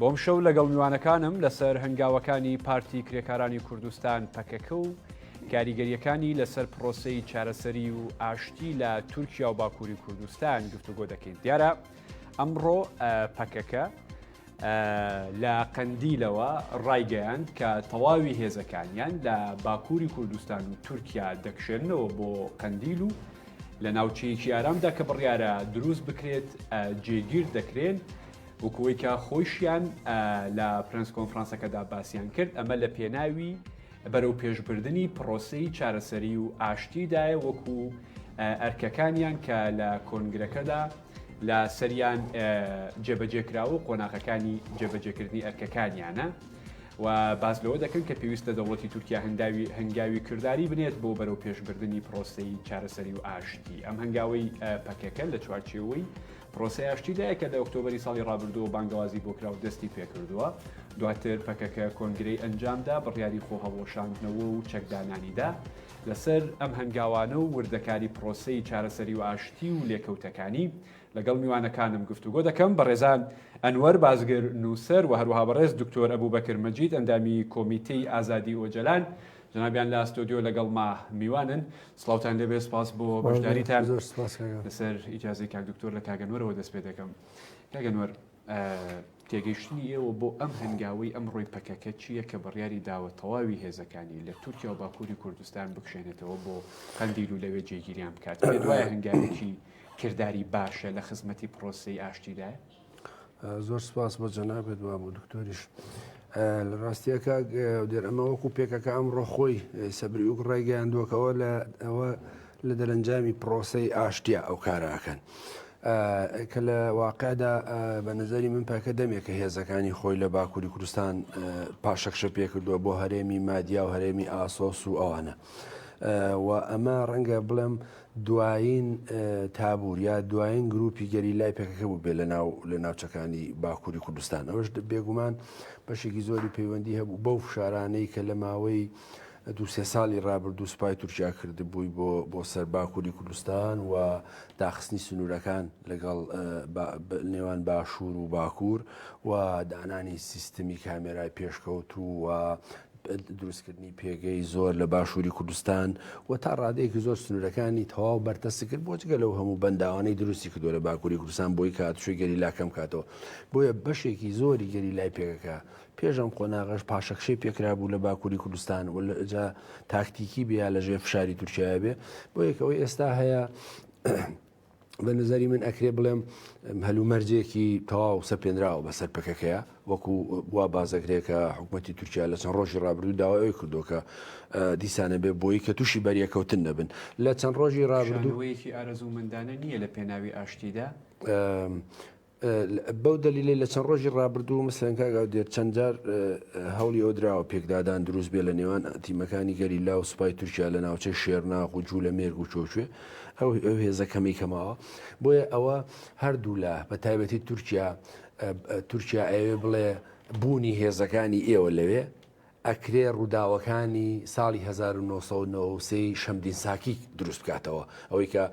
بۆم شەو لەگەڵ میوانەکانم لەسەر هەنگاوەکانی پارتی کرێکارانی کوردستان پەکەکە و کاریگەریەکانی لەسەر پرۆسەی چارەسەری و ئاشتی لە تورکیا و باکووری کوردستان گفتوگۆ دەکەین دیارە ئەمڕۆ پەکەکە لە قەندیلەوە ڕایگەیاند کە تەواوی هێزەکانیان لە باکووری کوردستان و تورکیا دەکشێنەوە بۆ قەندیل و لە ناوچەیەکی ئارامدا کە بڕیارە دروست بکرێت جێگیر دەکرێن وەکو ئەوەی کە خۆیشیان لە پرێنس کۆنفرانسەکەدا باسیان کرد، ئەمە لە پێناوی بەرەوپێشبردنی پرۆسەی چارەسەری و ئاشتیدایە وەکو ئەرکەکانیان کە لە کۆنگرەکەدا لە سەریان جێبەجێکراوە و قۆناغەکانی جێبەجێکردنی ئەرکەکانیانە و باس لەوە دەکەن کە پێویستە دەوڵەتی تورکیا هەنگاوی هەنگاوی کردداری بنێت بۆ بەرەو پێشبردننی پرۆسی چارەسەری و ئاشتی ئەم هەنگاوی پەکەکە لە چوارچێەوەی پرۆسەی ئاشتی لە یەکە لە ئۆکتۆبەری ساڵی ڕابردووەوە بانگەوازی بۆ کراو دەستی پێکردووە، دواتر پەکەکە کۆنگرەی ئەنجامدا، بڕیاری خۆهەڵوەشاندنەوە و چەکدانانی دا. لەسەر ئەم هەنگاوانە و وردەکاری پرۆسەی چارەسەری و ئاشتی و لێکەوتەکانی، لەگەڵ میوانەکانم گفتوگۆ دەکەم، بەڕێزان ئەنوەر بازگر، نووسەر و هەروەها بەڕێز دکتۆر ئەبوبەکر مەجید، ئەندامی کۆمیتەی ئازادی ئۆجەلان. جەنابیان لە ستۆدیۆ لەگەڵما میوانن سڵاوتان لێبێ سپاس بۆ بەشداریتان لەسەر ئیجازی کاک دکتۆر لە کاگەنوەرەوە دەست پێ دەکەم کاگەنوەر تێگەیشتنی ئێوە بۆ ئەم هەنگاوی ئەم ڕۆی پەکەکە چییە کە بڕیاری داوە تەواوی هێزەکانی لە تورکیا و باکووری کوردستان بکشێنێتەوە بۆ قەندیل و لەوێ جێگیریان بکات دوای هەنگاوێکی کردداری باشە لە خزمەتی پرۆسی ئاشتیدایە زۆر سپاس بۆ جەنابێت وە بۆ دکتۆریش لە ڕاستیەکە دێر ئەمە وەکو پێکەکە ئەم ڕۆخۆی سەبری و ڕێگەیاندوەکەەوە لە ئەوە لە دەرەنجامی پرۆسی ئاشتیا ئەو کاراکەن. کە لە واقعدا بە نظری من پاکە دەمێکە هێزەکانی خۆی لە باکووری کوردستان پاشەکشە پێکردووە بۆ هەرێمی مادیا و هەرێمی ئاسۆس و ئەوانە. و ئەمە ڕەنگە بڵێم دوایین تابور یا دوایین گروپی گەریلای پەکەکە بوو بێ لەناو لە ناوچەکانی باکووری کوردستان ئەوش بێگومان بەشێکی زۆری پەیوەندی هەبوو بەو فشارانەی کە لە ماوەی دوسێ ساڵی رابرردوو سوپای تورکیا کردبووی بۆ بۆ سەر باکووری کوردستان و داخستنی سنوورەکان لەگەڵ نێوان باشوور و باکوور و دانانی سیستمی کامێرای پێشکەوت و دروستکردنی پێگەی زۆر لە باشووری کوردستان و تا ڕادەیەکی زۆر سنوورەکانی تەواو بەرتەسک کرد بۆ جگە لەو هەموو بەنداوانەی دروستی کردو لە باکووری کوردستان بۆی کات شوی گەریلا کەم کاتەوە بۆیە بەشێکی زۆری گەریلای پێگەکە پێش ئەم قۆناغەش پاشەکشەی پێکرابوو لە باکووری کوردستان و لەجا تاکتیکی بێ لەژێر فشاری تورکیا بێ بۆ یەکەوەی ئێستا هەیە بە نظری من ئەکرێ بڵێم هەلومەرجێکی تەواو سەپێنراوە بەسەر پەکەکەیە وەکو وا بازەکرێکە حکوومەتتی تورکیا لە چەند ڕۆژی ڕابردوو داوای ئەوی کردوکە دیسانە بێ بۆی کە تووشی بەریەکەوتن نەبن لە چەند ڕۆژی ڕابردووەیەکی ئارەزوومەندانە نییە لە پێناوی ئاشتیدا بەو دەلیلەی لە چەند ڕۆژی ڕابردوو مەسەلەن کاک ئاودێر چەند جار هەوڵی ئەوە دراوە پێکدادان دروست بێ لە نێوان تیمەکانی گەریلا و سوپای تورکیا لە ناوچەی شێرناخ و جوولەمێرگ و چۆچێ ئەو هێزە کەمەی کە ماوە بۆیە ئەوە هەردوولا بە تایبەتی تورکیا تورکیا ئەوێ بڵێ بوونی هێزەکانی ئێوە لەوێ ئەکرێ ڕووداوەکانی ساڵی هەزار و نۆ سەد و نەوەد و سێ ی شەمدین ساکی دروست بکاتەوە، ئەوەی کە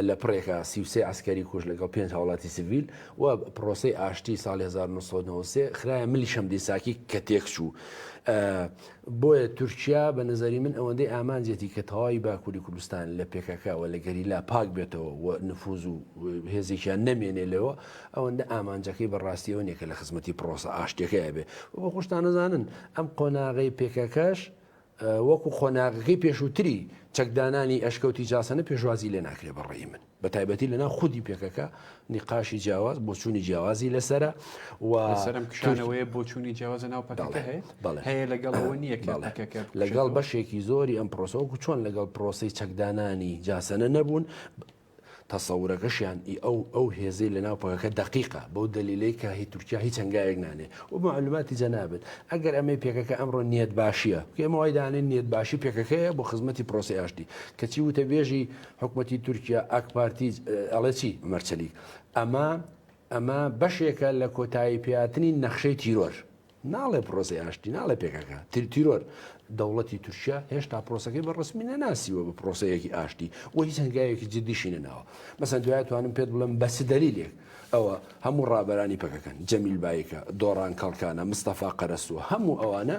لە پڕێکا سی و سێ عەسکەری کوشت لەگەڵ پێنج هاوڵاتی سڤیل و پڕۆسەی ئاشتی ساڵی هەزار و نۆ سەد و نەوەد و سێ خرایە ملی شەمدین ساکی کە تێکچوو. بۆیە تورکیا بە نەزەری من ئەوەندەی ئامانجێتی کە تەواوی باکووری کوردستان لە پێکەکە و لە گەریلا پاک بێتەوە و نفووز و هێزێکیان نەمێنێ لێوە، ئەوەندە ئامانجەکەی بە ڕاستیەوە نیە کە لە خزمەتی پڕۆسە ئاشتیەکەیە بێ و بە خۆشتان ئەزانن ئەم قۆناغەی پێکەکەش وەکو قۆناغەکەی پێشووتری چەکدانانی ئەشکەوتی جاسەنە پێشوازی لێ ناکرێ بەڕێی من بە تایبەتی لەنا خودی پێکەکە نقاشی جیاواز بۆ چووی جیاوازی لەسرە و سەرم کشانەوەی بۆ چووی جیاوازە ناو پەکەڵێ هەیە لەگەڵەوە نییە پەکەکە لەگەڵ بەشێکی زۆری ئەم پرۆسەوەکو چۆن لەگەڵ پرۆسی چەکدانانی جاسەنە نەبوون تەسەورەکەشیان ئی ئەو ئەو هێزەی لە ناو پەکەکە دەقیقە بەو دەلیلەی کە هی تورکیا هیچ هەنگاوێک نانێ و بە مەعلوماتی جەنابت ئەگەر ئەمەی پەکەکە ئەمڕۆ نیەتباشیە کە ئێمە وای دانێن نیەتباشی پەکەکەیە بۆ خزمەتی پرۆسەی ئاشتی کەچی وتەبێژی حکومەتی تورکیا ئاکپارتی ئەڵێ چی عومەر چەلیک ئەمە ئەمە بەشێکە لە کۆتاییپێاتنی نەخشەی تیرۆر. ناڵێ پرۆسی ئاشتی ناڵێ پێکەکە ترتیرۆر دەوڵەتی تورکیا هێشتا پرۆسەکەی بە ڕسمی نەناسیوە بە پرۆسەیەکی ئاشتی و هیچ هەنگاوێکی جددیشی نەناوە مەسەن دوای توانم پێت بڵم بەس دەلیلێک ئەوە هەموو ڕابەرانی پەکەکەن جەمیل بایکە دۆڕان کەڵکانە مستەفا قەرەسووە هەموو ئەوانە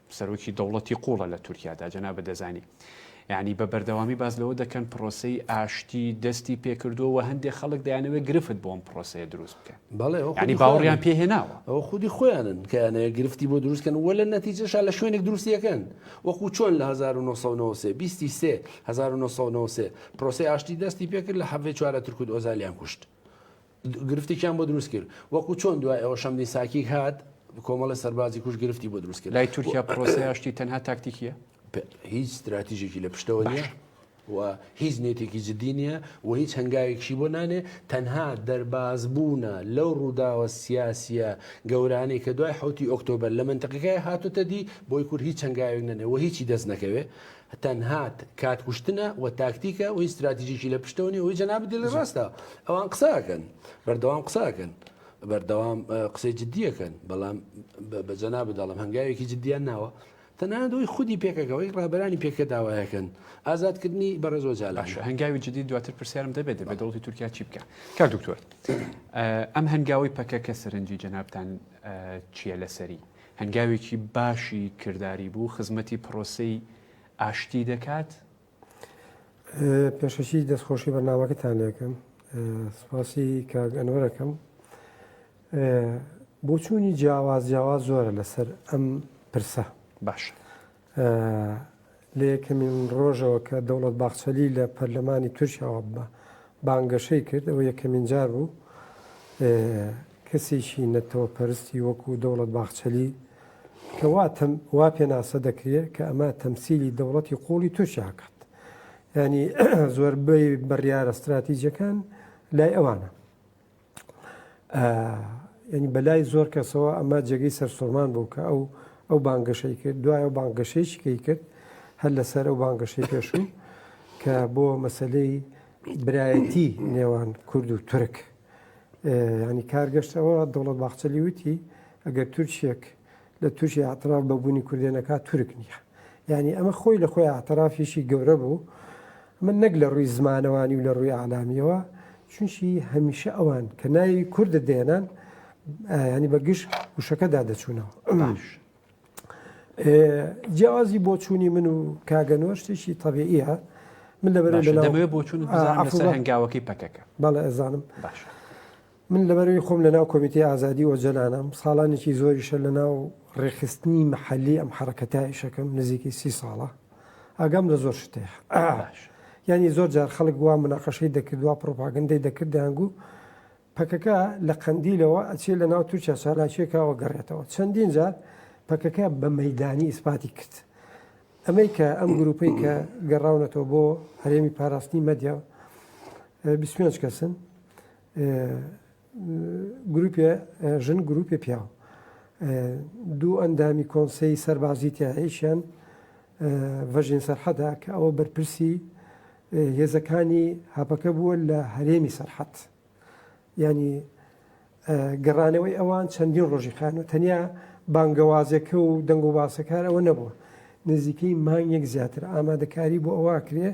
سەرۆکی دەوڵەتی قوڵە لە تورکیادا جەنابت دەزانی یعنی بە بەردەوامی باس لەوە دەکەن پرۆسەی ئاشتی دەستی پێکردووە و هەندێک خەڵک دەیانەوەی گرفت بۆم پرۆسەیە دروست بکەن بەڵێنی باوەڕیان پێهێناوە ئەو خودی خۆیانن کەیانەیە گرفتی بۆ دروستکەن وە لە نەتیجەشا لە شوێنێک دروستیەکەن وەکو چۆن لە 1993 پرۆسی ئاشتی دەستی پێکرد لە حەڤێ چوارە ترکوت ئۆزالیان کوشت گرفتێکیان بۆ دروست کرد وەکو چۆن دوای ئەوە شەمدین ساکیک هات کۆمەڵە سەربازی کوش گرفتی بۆ دروست کرد لای تورکیا پرۆسەی ئاشتی تەنها تاکتیکیە؟ هیچ ستراتیژێکی لە پشتەوە نیە و هیچ نێتێکی جددی نییە و هیچ هەنگاوێکشی بۆ نانێ تەنها دەرباز بوونە لەو ڕووداوە سیاسیە گەورانەی کە دوای حوتی ئۆکتۆبەر لە منتەقەکە هاتوتە دی بۆی کورد هیچ هەنگاوێک نەنێ و هیچی دەست نەکەوێ تەنها کات کوشتنە و تاکتیکە و هیچ ستراتیژیکی لە پشتەوە نیە وی جەنابت دێڵی ڕاستە ئەوان قساکەن بەردەوام قساکەن بەردەوام قسەی جددیەکەن بەڵام بە جەنا بدەڵم هەنگاوێکی جددیان ناوە تەنها دوی خودی پێکەکەەوەی ڕابرانی پێکە داواەکەن ئازادکردنی بەڕێزۆ جالاش هەنگاوی جددی دواتر پرسیارم دەبێت دەبێت دەوڵی تورکیا چی بکە کار دکتۆر ئەم هەنگاوی پەکەکە سەرنجی جەنابان چییە لەسەری هەنگاوێکی باشی کرداری بوو خزمەتی پرۆسەی ئاشتی دەکات. پێشەکی دەستخۆشی بەرنامەکەتان لێکەم سپاسی کاک ئەنوەرەکەم بۆچوونی جیاواز جیاواز زۆرە لەسەر ئەم پرسە باش. لە یەکەمین ڕۆژەوە کە دەوڵەت باخچەلی لە پەرلەمانی تورکیاوە بە بانگەشەی کرد، ئەوە یەکەمین جار بوو کەسێکی نەتەوەپەرستی وەکوو دەوڵەت باخچەلی کە وا تەم وا پێناسە دەکرێ کە ئەمە تەمسیلی دەوڵەتی قووڵی تورکیا کات. یانی زۆربەی بڕیارە ستراتیجەکان لای ئەوانە. یعنی بەلای زۆر کەسەوە ئەمە جێگەی سەرسوڕمان بوو کە ئەو ئەو بانگەشەی کرد دوایە بانگەشەیەکی کەی کرد هەر لەسەر ئەو بانگەشەی پێشوو کە بۆ مەسلەی برایەتی نێوان کورد و تورک ینی کارگەشتەوە دەوڵەت باخچەلی وتی ئەگەر تورکێک لە تورکیا اعتراف بە بوونی کوردێ نەکا تورک نییە. یانی ئەمە خۆی لە خۆی اعترافێکی گەورە بوو. ئەمە نەک لە ڕووی زمانەوانی و لە ڕووی ئەعلامییەوە، چونکی هەمیشە ئەوان کە ناوی کوردت دێنان ینی بە گشت وشەکەدا دەچوونەوە. جیاوازی بۆچوونی من و کاگەنەوە شتێکی تەبیعە من لەبەر لەوێ بۆچون هەنگاوەکەی پەکەکە بەڵێ ئەزانم. من لەبەروی خۆم لەناو کۆمیتەی ئازادی ئۆجەلانم، ساڵانێکی زۆریشە لەناو ڕێکخستنی مەحەلی ئەم حەڕەکەتە ئیشەکەم، نزیکەی سی ساڵە ئاگام لە زۆر شت هەیە. یانی زۆر جار خەڵک وا مناقەشەی دەکرد، وا پڕۆپاگەندەی دەکرد، دەیانگوو پەکەکە لە قەندیلەوە ئەچێ لەناو تورکیا چالاکییەکە وەگەڕێتەوە. چەندین جار پەکەکە بە مەیدانی ئیسپاتی کرد. ئەمەی کە ئەم گرووپەی کە گەڕاونەتەوە بۆ هەرێمی پاراستنی مەدیا، بیست و پێنج کەسن، گروپێ ژن گروپێ پیاو دوو ئەندامی کۆنسەی سەربازی تیایشیان ڤەژین سەرحەدا کە ئەوە بەرپرسی هێزەکانی هەپەکە بووە لە هەرێمی سەرحەت ینی گەڕانەوەی ئەوان چەندین ڕۆژی خانە تەنیا بانگەوازەکە و دەنگ و باسەکار ئەوە نەبووە نزیکەی مانگێک زیاتر ئامادەکاری بۆ ئەوە کرێ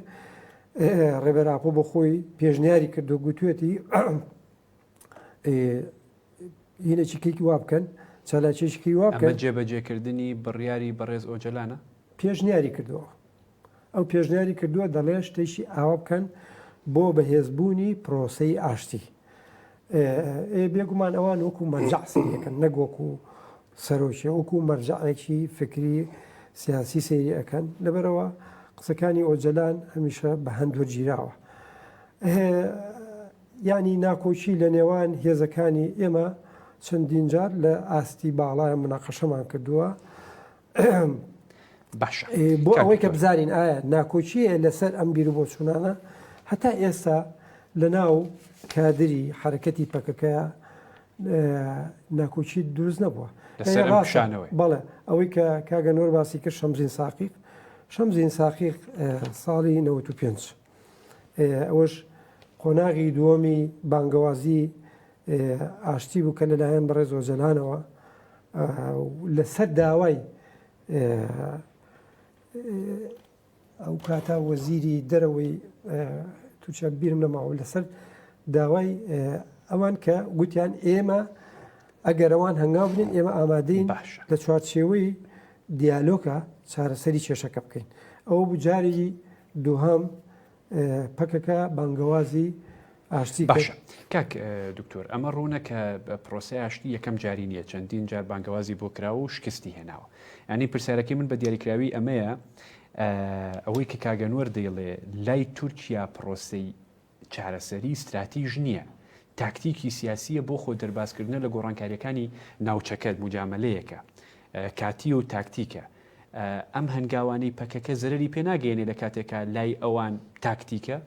ڕێبەر ئاپۆ بۆ خۆی پێشنیاری کردو گوتوێتی هینەچیکێکی وا بکەن چالاکێشکی وا بکەن جێبەجێکردنی بڕیاری بەڕێز ئۆجەلانە پێشنیاری کردەوە ئەو پێشنیاری کردووە دەڵێ شتێکی ئاوا بکەن بۆ بەهێزبوونی پرۆسەی ئاشتی بێگومان ئەوان وەکو مەرجعسەکەن نەگۆک و سەرۆکیە وەکو مەرجەعێکی فکری سیاسی سەیری ئەکەن لەبەرەوە قسەکانی ئۆجەلان هەمیشە بە هەند وەرگیراوە یانی ناکۆکی لە نێوان هێزەکانی ئێمە چەندین جار لە ئاستی باڵای مناقەشەمان کردووە باش بۆ ئەوەی کە بزانین ئایا ناکۆکیە لەسەر ئەم بیر بۆ چوونانە هەتا ئێستا لە ناو کادری حرەکەتی پەکەکەیە ناکۆکی دروست نەبووە بەڵێ ئەوەی کە کاگەنۆر باسی کرد شەمزین ساقیق شەمزین ساقیق ساڵی 95 ئەوەش قۆناغی دووەمی بانگەوازی ئاشتی بوو کە لەلایەن بەڕێز ئۆجەلانەوە لەسەر داوای ئەوکاتە وەزیری دەرەوەی تورکیا بیرم نەماوە لەسەر داوای ئەوان کە گوتیان ئێمە ئەگەرەوان هەنگاو بنین ئێمە ئامادەین لە چوارچێوەی دیالۆکە چارەسەری کێشەکە بکەین ئەوە بجاری دووهام پەکەکە بانگەوازی ئاشتی کرد. باشە کاک دکتۆر، ئەمە ڕوونە کە پرۆسەی ئاشتی یەکەم جاری نییە، چەندین جار بانگەوازی بۆ کراوە و شکستی هێناوە. یانی پرسیارەکەی من بە دیاریکراوی ئەمەیە، ئەوەی کە کاک ئەنوەر دەیڵێ لای تورکیا پرۆسەی چارەسەری ستراتیژ نییە، تاکتیکی سیاسییە بۆ خۆ دەربازکردنە لە گۆڕانکارییەکانی ناوچەکە، موجامەلەیەکە کاتییە و تاکتیکە. ئەم هەنگاوانەی پەکەکە زەرەری پێ ناگەیەنێ لە کاتێکا لای ئەوان تاکتیکە؟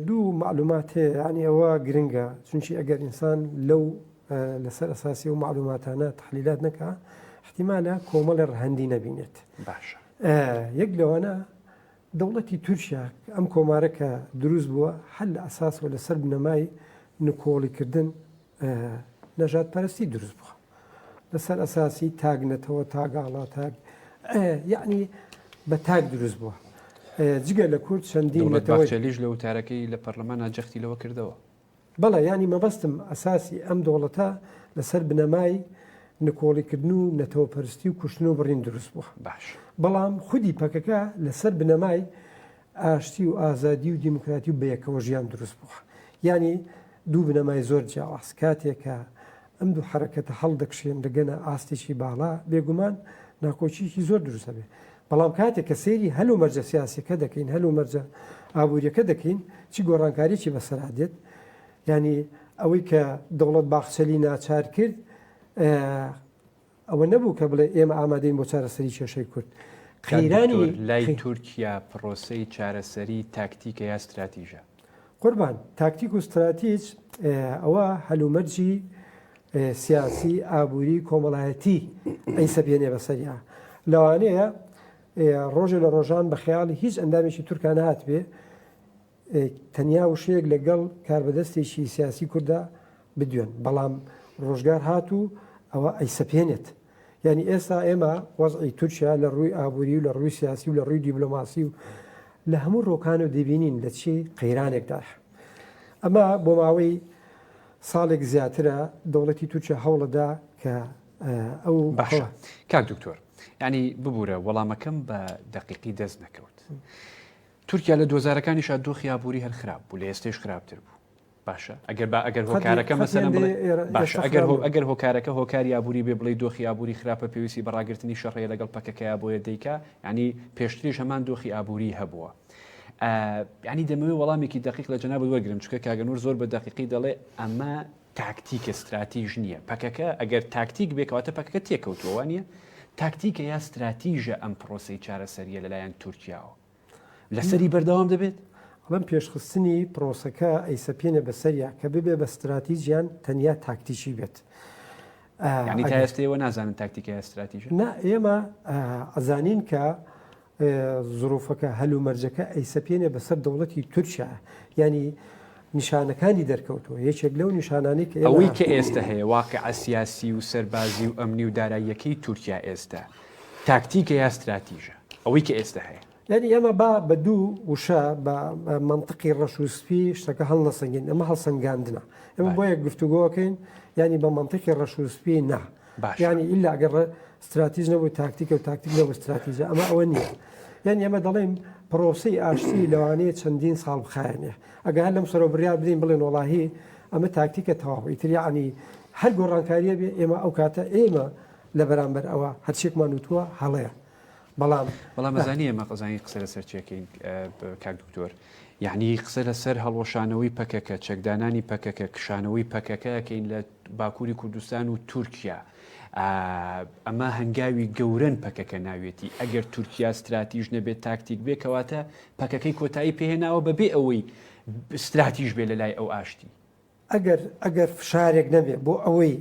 دوو مەعلومات هەیە یانی ئەوە گرنگە چونکی ئەگەر ئینسان لەو لەسەر ئەساسی و مەعلوماتانە تحلیلات نەکا احتیمالە کۆمەڵی ڕەهەندی نەبینێت باشە یەک لەوانە دەوڵەتی تورکیا ئەم کۆمارە کە دروست بووە هەر لە ئەساسەوە لەسەر بنەمای نکۆڵیکردن نەژاد پەرستی دروست بخە لەسەر ئەساسی تاگ نەتەوە تاگاڵا تاگ یعنی بە تاگ دروست بووە جگە لە کورد چەندین لەتەوەلیش لە وتارەکەی لە پەرلەمانە جەختی لەوە کردەوە بەڵێ ینی مەبەستم ئەساسی ئەم دەوڵەتە لەسەر بنەمای نکۆڵیکردن و نەتەوە پەرستی و کوشتن و بڕین دروست بووە باش بەڵام خودی پەکەکە لەسەر بنەمای ئاشتی و ئازادی و دیموکراتی و بەیەکەوە ژیان دروست بووە. یانی دوو بنەمای زۆر جیاواز. کاتێ کە ئەم دوو حەرەکەتە هەڵدەکشێن دەگەنە ئاستێکی باڵا، بێگومان ناکۆکییەکی زۆر دروست ئەبێ. بەڵام کاتێ کە سەیری هەل و مەرجە سیاسییەکە دەکەین، هەل و مەرجە ئابوورییەکە دەکەین، چ گۆڕانکارییەکی بەسەرا دێت؟ یانی ئەوەی کە دەوڵەت باخچەلی ناچار کرد، ئەوە نەبوو کە بڵێ ئێمە ئامادەین بۆ چارەسەری کێشەی کورد قەیرانی لای تورکیا پرۆسەی چارەسەری تاکتیکە یا استراتیژە قوربان تاکتیک و استراتیج ئەوە هەلومەرجی سیاسی ئابووری کۆمەڵایەتی ئەی سەبیێنێ بەسەریا لەوانەیە ڕۆژێ لە ڕۆژان بە خیاڵی هیچ ئەندامێکی تورکان هاتبێ تەنیا وشەیەک لە گەڵ کاربەدەستێکی سیاسی کورددا بدوێن، بەڵام ڕۆژگار هات و ئەوە ئەیسەپێنێت. یانی ئێستا ئێمە وەزعی تورکیا لە ڕووی ئابووری و لە ڕووی سیاسی و لە ڕووی دیبلۆماسی و لە هەموو ڕووەکانەوە دەیبینین لە چی قەیرانێکدایە. ئەمە بۆ ماوەی ساڵێک زیاترە دەوڵەتی تورکیا هەوڵ ئەدا کە ئەو. باشە کاک دکتۆر، یانی ببوورە وەڵامەکەم بە دەقیقی دەست نەکەوت. تورکیا لە دۆزارەکانیشا دۆخی ئابووری هەر خراپ بوو لە ئێستەیش خراپتر بوو باشە ئەگەر با ئەگەر هۆکارەکە مەسەلەن بڵێ باشە ئەگەر هۆ ئەگەر هۆکارەکە هۆکاری ئابووری بێ بڵێ دۆخی ئابووری خراپە پێویستی بە ڕاگرتنی شەڕەیە لەگەڵ پەکەکەیە بۆیە دەیکا ینی پێشتریش هەمان دۆخی ئابووری هەبووە ینی دەمەوێت وەڵامێکی دقیق لە جەناب وەرگرم چکە کاگەنور زۆر بە دقیقی دەڵێ ئەمە تاکتیکە استراتیژ نییە پەکەکە ئەگەر تاکتیک بێکواتە پەکەکە تێکەوتووە نیە تاکتیکە یا استراتیژە ئەم پرۆسی چارەسەریە لەلایەن تورکیاوە لەسەری بەردەوام دەبێت؟ بەم پێشخستنی پرۆسەکە ئەیسەپێنێ بە سەریا کە ببێ بە ستراتیجیان تەنیا تاکتیکی بێت. ینی تا ئێستەوە نازانن تاکتیکای استراتیژ نا ئێمە ئەزانین کە زروفەکە هەل و مەرجەکە ئەیسەپێنێ بەسەر دەوڵەتی تورکیا ینی نیشانەکانی دەرکەوتووە، یەکێک لەو نیشانانەی کە ئێمە. ئەوەی کە ئێستە هەیە، واقیعە سیاسی و سەربازی و ئەمنی و داراییەکەی تورکیا ئێستە، تاکتیکە یا ستراتیژە؟ ئەوەی کە ئێستە هەیە. یانی ئێمە با بە دوو وشە، بە مەنتقی ڕەش و سپی شتەکە هەڵنەسەنگێنین، ئەمە هەڵسەنگاندنە. ئێمە بۆیە گفتوگۆ ئەکەین، یانی بە مەنتقی ڕەش و سپی نا. باشە. یانی ئیلا گەر ڕە ستراتیژ نەبوو تاکتیکە و تاکتیک نەبوو ستراتیژە ئەمە ئەوە نییە. یانی ئێمە دەڵێین پڕۆسەی ئاشتی لەوانەیە چەندین ساڵ بخایەنێ. ئەگە هەر لەم سەرەوە بڕیار بدەین بڵێن وەڵاهی ئەمە تاکتیکە تەواو ئیتر یانی هەر گۆڕانکارییە بێ ئێمە ئەو کاتە ئێمە لە بەرامبەر ئەوە هەرچێکمان وتووە هەڵەیە. بەڵام بەڵام بەزانی ئێمە قەزانی قسە لەسەر چێکین کاک دکتۆر یعنی قسە لەسەر هەڵۆشانەوەی پەکەکە چەکدانانی پەکەکە کشانەوەی پەکەکەکەین لە باکووری کوردستان و تورکیا ئەمە هەنگاوی گەورن پەکەکە ناوێتی ئەگەر تورکیا استراتیژ نەبێت تاکتیک بێ کەواتە پەکەکەی کۆتایی پێهێناوە بەبێ ئەوەی استراتیژ بێ لە لای ئەو ئاشتی ئەگەر ئەگەر فشارێک نەبێ بۆ ئەوەی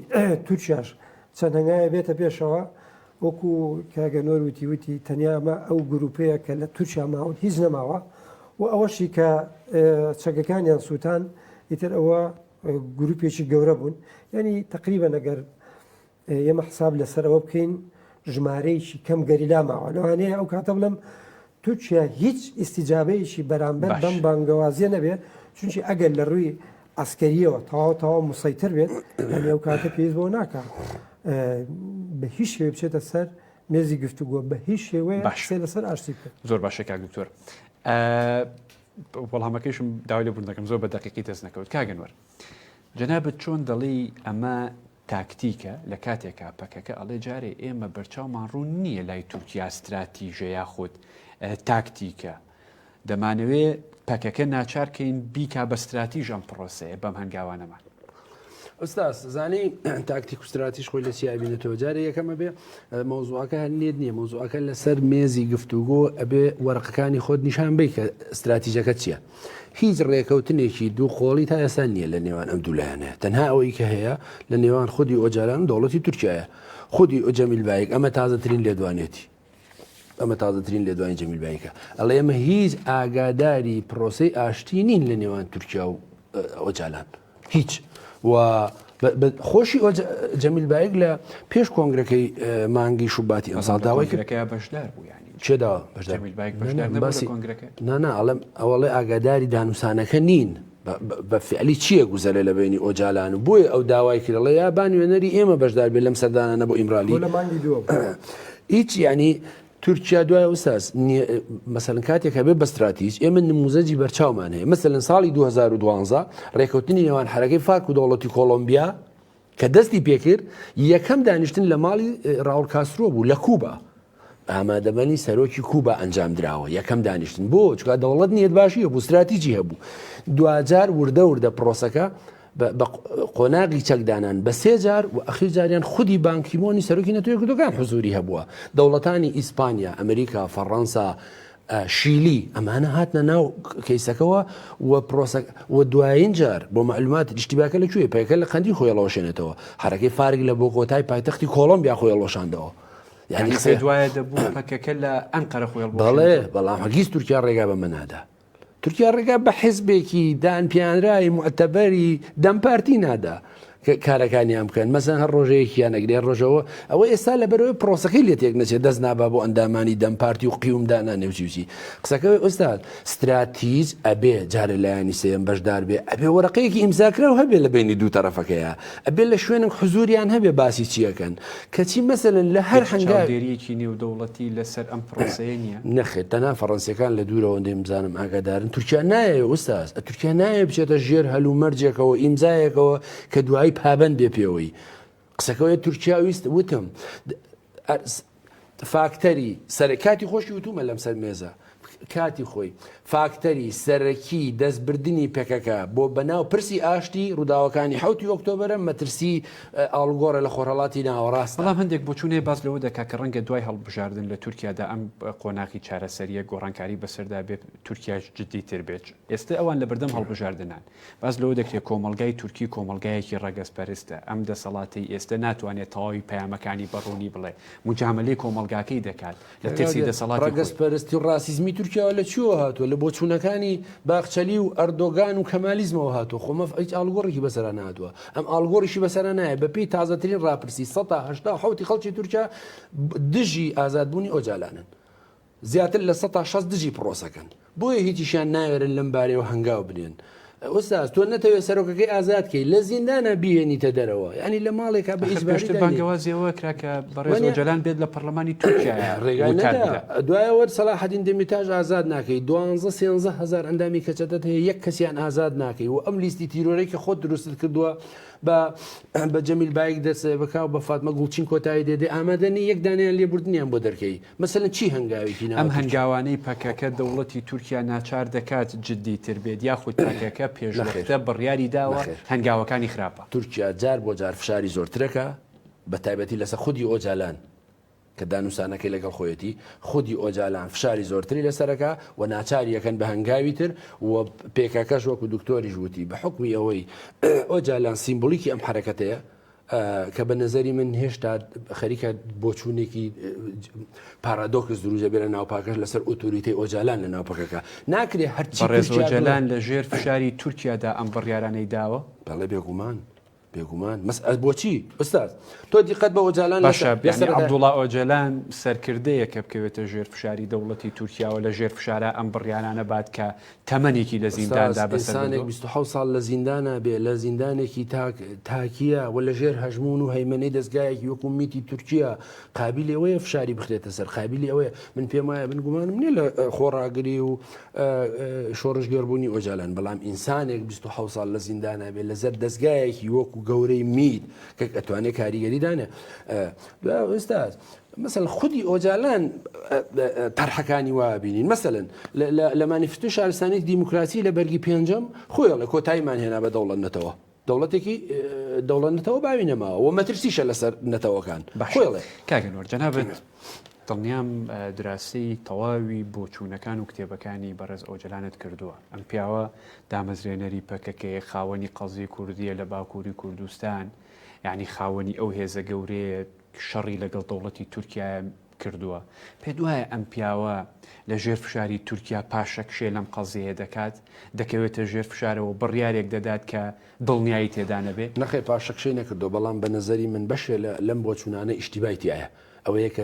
تورکیاش چەند هەنگاوێ بێتە پێشەوە، وەکو کاگە نۆر وتی وتی تەنیا ئەمە ئەو گروپەیە کە لە تورکیا ماون هیچ نەماوە و ئەوەشی کە چەکەکانیان سووتان ئیتر ئەوە گروپێکی گەورە بوون یعنی تقریبا نەگەر ئێمە حساب لەسەر ئەوە بکەین ژمارەیەکی کەم گەریلا ماوە لەوانەیە ئەو کاتە بڵم تورکیا هیچ ئیسیجابەیەکی بەرامبەر بەم بانگەوازیە نەبێ چونکی ئەگەر لە ڕووی ئەسکەریەوە تەواو تەواو مسەیتر بێت ئەو کاتە پێویست بۆ ناکە بە هیچ شێ بچێتە سەر مێزی گفتوگۆ بە هیچ شێوەیە باشێ لەسەر ئاشتی بکە زۆر باشە کاک دکتۆر وەڵامەکەیشم داوای لە بوون دەکەم زۆر بە دقیقی دەست نەکەوت کاگەنوەر جەنابەت چۆن دەڵی ئەمە تاکتیکە لە کاتێکا پەکەکە ئەڵێ جارێ ئێمە بەرچاومان ڕوون نییە لای تورکیا ستراتیژە یاخود تاکتیکە دەمانەوێ پەکەکە ناچار کەین بیکا بە ستراتیژ ئەم پرۆسەیە بەم هەنگاوانەمان ئەستاس زانانی تاکتیک و ستراتیش خۆی لە سیابینێتەوە جارە یەکەمە بێ مۆزوعەکە هەر نێت نییە مۆزوعەکە لەسەر مێزی گفتوگۆ ئەبێ وەرقەکانی خۆت نیشان بی کە استراتیژەکە چییە هیچ ڕێکەوتنێکی دوو قۆڵی تا ئێستا نییە لە نێوان ئەم دوولایەنێ تەنها ئەوەی کە هەیە لە نێوان خودی ئۆجالان و دەوڵەتی تورکایە خودی ئۆجەمیل بایک ئەمە تازەترین لێدوانێتی ئەمە تازەترین لێدوانی جەمیل بایکە ئەڵێ ئەمە هیچ ئاگاداری پرۆسی ئاشتی نین لە نێوان تورکیا و ئۆجالان. هیچ و خۆشی ئۆ جەمیل بایک لە پێش کۆنگرەکەی مانگی شوباتی ئەمساڵ داوای کرەکە بەشدار بوو ینی چێدا نانا ئەڵم ئەوڵێ ئاگاداری دانوسانەکە نین بە فعلی چییە گوزەرە لە بینی ئۆجالان و بۆیە ئەو داوای کرەڵە یا بانوێنەری ئێمە بەشدار بێ لەم سەردانە بۆ ئیمرالی هیچ ینی تورکیا دوای ئوستاز نیە مەسەلەن کاتێک هەبێ بە ستراتیج ئێمە نموزەجی بەرچاومان هەیە مەسەلەن ساڵی 2012 ڕێکوتنی نێوان حرەکەی فارک و دەوڵەتی کۆلمبیا کە دەستی پێکرد یەکەم دانیشتن لە ماڵی ڕاول کاسرۆ بوو لە کوبا ئامادەبنی سەرۆکی کوبا ئەنجام درراوە یەکەم دانیشتن بۆ چکا دەوڵەت نیەت باشی هەبوو ستراتیجی هەبوو دوجار وردە وردە پرۆسەکە بە قۆناغی چەک دانان بە سێ جار و ئەخیر جاریان خودی بانکیمۆنی سەرۆکی نەتوێ کردەکان حزوری هەبووە دەوڵەتانی ئیسپانیا ئەمریکا فەڕەنسا شیلی ئەمانە هاتنە ناو کەیسەکەەوە و پرۆسە و دوایین جار بۆ معلومات دیشتیباکە لە کوێ پێکە لە قەندی خۆیڵەوەشێنێتەوە حرەکەی فارگ لە بۆ کۆتای پایتەختی کۆڵمبیا خۆیڵۆشاندەوە یعنی قسەی دوایە دەبوو پەکەکە لە ئەنقەرە خۆیڵ بەڵێ بەڵام هەگیز تورکیا ڕێگا بەمە نادا تورکیا ڕێگا بە حزبێکی دانپیانراوی موعتەبەری دەم پارتی نادا کارەکانیان بکەن مەزەن هەر ڕۆژەیەکیان نەگرێ ڕۆژەوە ئەوە ئێستا لە بەرەوەی پرۆسەکەی لێ تێک نەچێت دەست نابا بۆ ئەندامانی دەم پارتی و قیومدانا نێوچیوچی قسەکەی ئوستاد ستراتیج ئەبێ جارە لایەنی سێم بەشدار بێ ئەبێ وەرەقەیەکی ئیمزاکراو هەبێ لە بینی دوو تەرەفەکەیە ئەبێ لە شوێنم حزوریان هەبێ باسی چیەکەن کەچی مەسەلەن لە هەر هەنگاوێک. هیچ چاودێرییەکی نێودەوڵەتی لەسەر ئەم پرۆسەیە نییە؟ نەخێر، تەنها فەرەنسییەکان لە دوورەوە ئەوەندەی بزانم ئاگادارن. تورکیا نایەوێت ئوستاز، تورکیا نایەوێت بچێتە ژێر هەلومەرجێکەوە، ئیمزایەکەوە کە دوایی پابەند بێت پێوەی. قسەکە وەیە تورکیا ویست، وتم، فاکتەری سەرەکی، کاتی خۆشی وتوومە لەم سەر مێزە، کاتی خۆی فاکتەری سەرەکی دەستبردنی پەکەکە بۆ بەناو پرسی ئاشتی، ڕووداوەکانی حەوتی ئۆکتۆبەرە، مەترسیی ئاڵوگۆڕە لە خۆرهەڵاتی ناوەڕاستدا. بەڵام هەندێک بۆچوونێ باس لەوە دەکات کە ڕەنگە دوای هەڵبژاردن لە تورکیادا ئەم قۆناغی چارەسەرییە گۆڕانکاری بەسەردا بێت، تورکیاش جددیتر بێت. ئێستە ئەوان لەبەردەم هەڵبژاردنان. باس لەوە دەکرێت کۆمەڵگای تورکی کۆمەڵگایەکی ڕەگەزپەرستە، ئەم دەسەڵاتەی ئێستە ناتوانێت تەواوی پەیامەکانی بە ڕوونی بڵێت، موجامەلەی کۆمەڵگاکەی دەکات لە ترسی دەسەڵاتی خۆی. ڕەگەزپەرستی و ڕاسیزمی تورکیاوە لە کوێوە هاتووە؟ لە بۆچوونەکانی باخچەلی و ئەردۆگان و کەمالیزمەوە هاتووە، خۆ مەف هیچ ئاڵوگۆڕێکی بەسەرا نەهاتووە، ئەم ئاڵوگۆڕیشی بەسەرا نایەت، بە پێی تازەترین ڕاپرسی سەتا هەشتا و حەوت ی خەڵکی تورکیا دژی ئازادبوونی ئۆجالانن. زیاتر لە سەتا شەست دژی پڕۆسەکەن بۆیە هیچیشیان ناوێرن لەم بارەیەوە هەنگاو بنێن. ئوستاز تۆ نەتەوێ سەرۆکەکەی ئازاد کەی لە زیندانا بیهێنیتە دەرەوە یانی لە ماڵێکا بە ئیجباری دانێی. ئەخر پێشتر بانگەوازی ئەوە کرا کە بەڕێز ئۆجەلان بێت لە پەڕلەمانی تورکیایە ڕێگای وتار نەدا. بدات. دوای ئەوە سەلاحەدین دەمیرتاش ئازاد ناکەی دوانزە سێنزە هەزار ئەندامی کەچەتەت هەیە یەک کەسیان ئازاد ناکەی و ئەم لیستی تیرۆرەی کە خۆت دروستت کردوە بە بە جەمیل بایک دەست بکا و بە فاتمە گوڵچین کۆتایی دێ دێ ئامادە نی یەک دانەیان لێبوردنیان بۆ دەرکەی. مەسەلەن چی هەنگاوێکی ناوەکی؟ ئەم هەنگاوانەی پەکەکە دەوڵەتی تورکیا ناچار دەکات جددی تر بێت یاخود پەکەکە پێشوەختە بڕیاری داوە هەنگاوەکانی خراپە؟ تورکیا جار بۆ جار فشاری زۆرترەکا بە تایبەتی لەسەر خودی ئۆجالان کە دانوسانەکەی لەگەڵ خۆیەتی خودی ئۆجالان فشاری زۆرتری لەسەرەکا و ناچاری ئەکەن بە هەنگاوی تر و پێکەکەش وەکو دکتۆریش وتی بە حوکمی ئەوەی ئۆجالان سیمبولیکی ئەم حەرەکەتەیە کە بە نظری من هێشتا خەریکە بۆچوونێکی پارادۆکس دروزە بێ لە ناوپاکەش لەسەر ئۆتوریتی ئۆجالان لە ناوپەکەکە ناکرێ هەرچی ڕێزۆجلان لە ژێر فشاری تورکیادا ئەم بڕیارانەی داوە بەڵێ بێگومان بێگومان مەسئل بۆچی ئستاد تۆ دیقەت بە ئۆجالان عبدوڵا ئۆجلان سەرکردەیە کە بکەوێتە ژێر فشاری دەوڵەتی تورکیاوە لە ژێر فشارە ئەم بڕیارانە بات کە تەمەنێکی لە قساس، زینداندا بەسەر ئینسانێک بردووە. بیست و حەوت ساڵ لە زیندانا بێ، لە زیندانێکی تاک، تاکییە و لە ژێر هەژموون و هەیمەنەی دەزگایەکی وەکوو میتی تورکییە، قابیلی ئەوەیە فشاری بخرێتە سەر، قابیلی ئەوەیە. من پێم وایە، من گومانم نییە لە خۆڕاگری و شۆڕشگێڕبوونی ئۆجالان، بەڵام ئینسانێک بیست و حەوت ساڵ لە زیندانا بێ لە زەر دەزگایەکی وەکوو گەورەی میت کە ئەتوانێ کاریگەری دانێ، استاذ مثلا خودی ئۆجالان تەرحەکانی وابینین مثلەن لە مانیفتو شارستانی دیموکراسی لە بەرگی پێنجەم خۆیڵە کۆتاییمان هێنا بە دەوڵەت نەتەوە دەوڵەتێکی دەوڵەت نەتەوە باوی نەماوە و مەترسیشە لەسەر نەتەوەکان بەخۆڵێ کاگەنۆر جەنابێت دڵنیام دراسی تەواوی بۆچوونەکان و کتێبەکانی بەڕێز ئەوجلانت کردووە ئەم پیاوە دامەزرێنەری پەکەکەی خاوەنی قەزی کوردیە لە باکووری کوردستان یەعنی خاوەنی ئەو هێزە گەورەیە شەڕی لەگەڵ دەوڵەتی تورکیایە کردووە پێت وایە ئەم پیاوە لە ژێر فشاری تورکیا پاشەکشێ لەم قەزیەیە دەکات دەکەوێتە ژێر فشارەوە بڕیارێک دەدات کە دڵنیایی تێدا نەبێ؟ نەخێر پاشەکشەی نەکردووە بەڵام بە نەزەری من بەشێ لەم بۆچوونانە ئیشتیبای تیایە ئەوەیە کە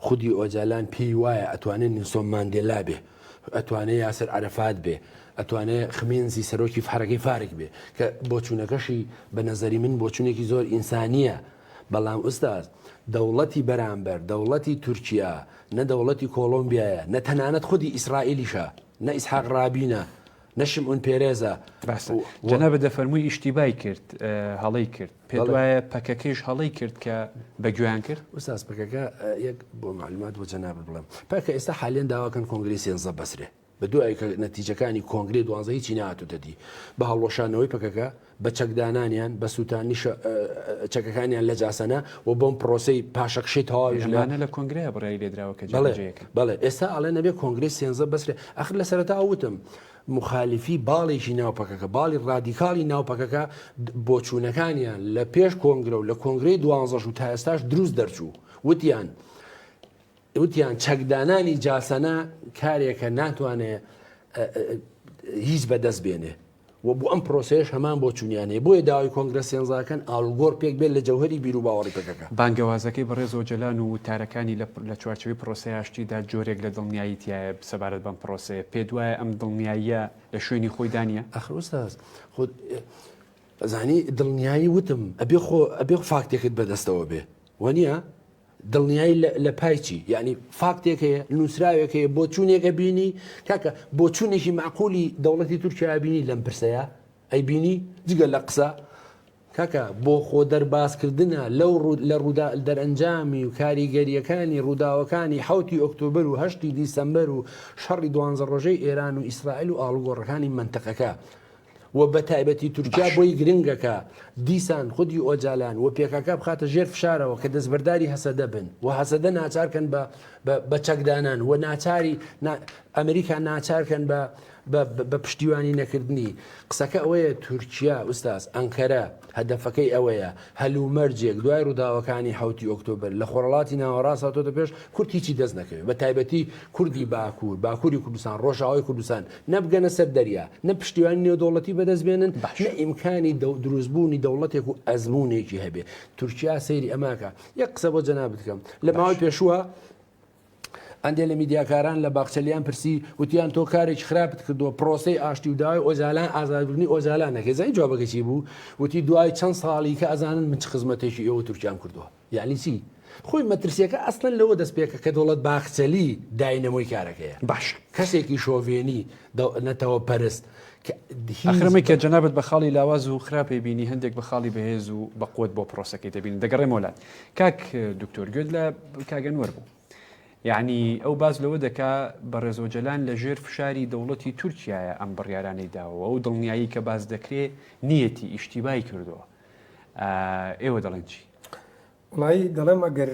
خودی ئۆجالان پێی وایە ئەتوانێ نلسۆن ماندێلا بێ، ئەتوانێ یاسر عەرەفات بێ، ئەتوانێ خمێنزی سەرۆکی حەرەکەی فارک بێ، کە بۆچوونەکەشی بە نەزەری من بۆچوونێکی زۆر ئینسانییە، بەڵام ئوستاز دەوڵەتی بەرامبەر، دەوڵەتی تورکیا، نە دەوڵەتی کۆڵۆمبیایە، نە تەنانەت خودی ئیسرائیلیشە، نە ئیسحاق ڕابینە، نشم اون پێرێزە. باسە جەنابت دەفەرمووی ئیشتیبای کرد هەڵەی کرد پێت وایە پەکەکەیش هەڵەی کرد کە بە گوێیان کرد وساز پەکەکە یەک بۆ معلومات بۆ جەنابت بڵێم پەکە ئێستا حالیان داواکەن کۆنگری سێنزە بەسرێ بە دوای کە نەتیجەکانی کۆنگری دوانزە هیچی نهاتوتە دی بە هەڵوەشانەوەی پەکەکە بە چەکدانانیان، بە سووتانی چەکەکانیان لە جاسەنە و بەم پرۆسەی پاشەکشەی تەواویش لە. ئەمانە لە کۆنگرەیە بڕیاری لێ دراوە کە جێبەجێ بەڵێ، یەکەن. بەڵێ، ئێستا ئەڵێن ئەبێ کۆنگرەی سێنزە بەسرێ، ئاخر لە سەرەتاوە وتم موخالیفی باڵێکی ناو پەکەکە، باڵی ڕادیکاڵی ناو پەکەکە بۆچوونەکانیان لە پێش کۆنگرە و لە کۆنگرەی دوانزەش و تا ئێستاش دروست دەرچوو، وتیان وتیان چەکدانانی جاسەنە کارێکە ناتوانێ هیچ بەدەست بێنێ. و بۆ ئەم پرۆسەیەش هەمان بۆچوونیانەیە، بۆیە داوای کۆنگرە سێنزاکەن ئاڵوگۆڕ پێک بێت لە جەوهەری بیروباوەڕی پەکەکە. بانگەوازەکەی بەڕێز ئۆجەلان و وتارەکانی لە لە چوارچێوەی پرۆسەی ئاشتیدا جۆرێک لە دڵنیایی تیایە سەبارەت بەم پرۆسەیە، پێت وایە ئەم دڵنیاییە لە شوێنی خۆی دا نییە؟ ئاخر ئوستاز خۆت ئەزانی دڵنیایی وتم ئەبێ خۆ ئەبێ فاکتێکت بەدەستەوە بێ وەنیە؟ دڵنیایی لە پای چی؟ یەعنی فاکتێک هەیە، نووسراوێک هەیە، بۆچوونێک ئەبینی؟ کاکە بۆچوونێکی مەعقوولی دەوڵەتی تورکیا ئەبینی لەم پرسەیە؟ ئەیبینی؟ جگە لە قسە؟ کاکە بۆ خۆ دەربازکردنە لەو لە ڕوودا دەرەنجامی و کاریگەرییەکانی ڕووداوەکانی حەوتی ئۆکتۆبەر و هەشتی دیسەمبەر و شەڕی دوانزە ڕۆژەی ئێران و ئیسرائیل و ئاڵوگۆڕەکانی مەنتقەکە و بە تایبەتی تورکیا باشە. بۆی گرنگە کە دیسان خودی ئۆجالان و پێکاکا بخاتە ژێر فشارەوە کە دەستبەرداری هەسەدە بن و هەسەدە ناچار کەن بە بە بە چەکدانان و ناچاری نا ئەمریکا ناچار کەن بە بە بە پشتیوانی نەکردنی قسەکە ئەوەیە تورکیا ئوستاز ئەنکەرە هەدەفەکەی ئەوەیە هەلومەرجێک دوای ڕووداوەکانی حەوتی ئۆکتۆبەر لە خۆرەڵاتی ناوەڕاست هاتۆتە پێش کورد هیچی دەست نەکەوێت بە تایبەتی کوردی باکوور باکووری کوردستان ڕۆژاوای کوردستان نە بگەنە سەر دەریا، نە پشتیوانی نێودەوڵەتی بەدەست بێنن، نە ئیمکانی دروست بوونی دەوڵەتێک و ئەزموونێکی هەبێ. تورکیا سەیری ئەماکە. یەک قسە بۆ جەنابت کەم. لە ماوەی پێشووە ئەندێ لە میدیاکاران لە باخچەلیان پرسی وتیان تۆ کارێکی خراپت کردووە پرۆسەی ئاشتی و داوای ئۆجالان ئازادکردنی ئۆجالان نەکەی زانی جوابەکەی چی بوو؟ وتی دوای چەند ساڵی کە ئەزانن من چ خزمەتێکی ئێوە تورکیام کردووە. یەعنی چی؟ خۆی مەترسیەکە ئەسڵەن لەوە دەست پێکە کە دەوڵەت باخچەلی داینەمۆی کارەکەیە. باشە. کەسێکی شۆڤێنی نەتەوە پەرست کە هیچ. ئاخر ئەمەی کە جەنابت بە خاڵی لاواز و خراپ ئەیبینی هەندێک بە خاڵی بەهێز و بە قوەت بۆ پرۆسەکەی دەبینن. دەگەڕێمەوە لات. کاک دکتۆر گوێت لە کاک ئەنوەر بوو. یەعنی ئەو باس لەوە دەکا بەڕێز ئۆجەلان لە ژێر فشاری دەوڵەتی تورکیایە ئەم بڕیارانەی داوە و ئەو دڵنیایی کە باس دەکرێ نیەتی، ئیشتیبای کردووە. ئێوە دەڵێن چی؟ وڵایی دەڵێم ئەگەر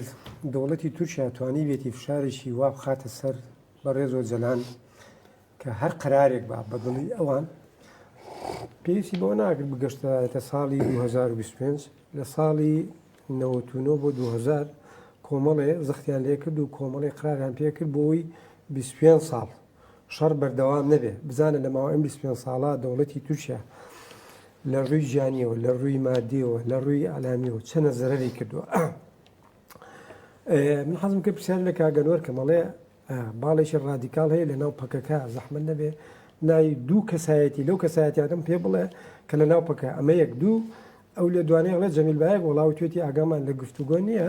دەوڵەتی تورکیا توانی بێتی فشارێکی وا بخاتە سەر بەڕێز و جەلان کە هەر قرارێک با بەدڵی ئەوان پێویستی بۆ ناگرت بگەشتایەتە ساڵی 2025 لە ساڵی 99 بۆ 2000 کۆمەڵێ زەختیان لێکرد و کۆمەڵی قراریان پێکرد بۆی 25 ساڵ شەڕ بەردەوام نەبێ بزانە لە ماوە ئەم 25 ساڵە دەوڵەتی تورکیا لە ڕووی گیانیەوە لە ڕووی مادیەوە لە ڕووی ئەلامیەوە چەنە زەرری کردووە من حەزم کە پرسیار لە کاگەنوەر کەمەڵێ باڵێکی ڕادیکال هەیە لە ناو پەکەکە زەحمە نەبێ ناوی دوو کەسایەتی لەو کەسایەتیادم پێ بڵێ کە لە ناو پەکە ئەمە یەک دوو ئەو لە دوانەیەڵە جەمیل باەک وڵاو توێتی ئاگامان لە گفتوگۆ نییە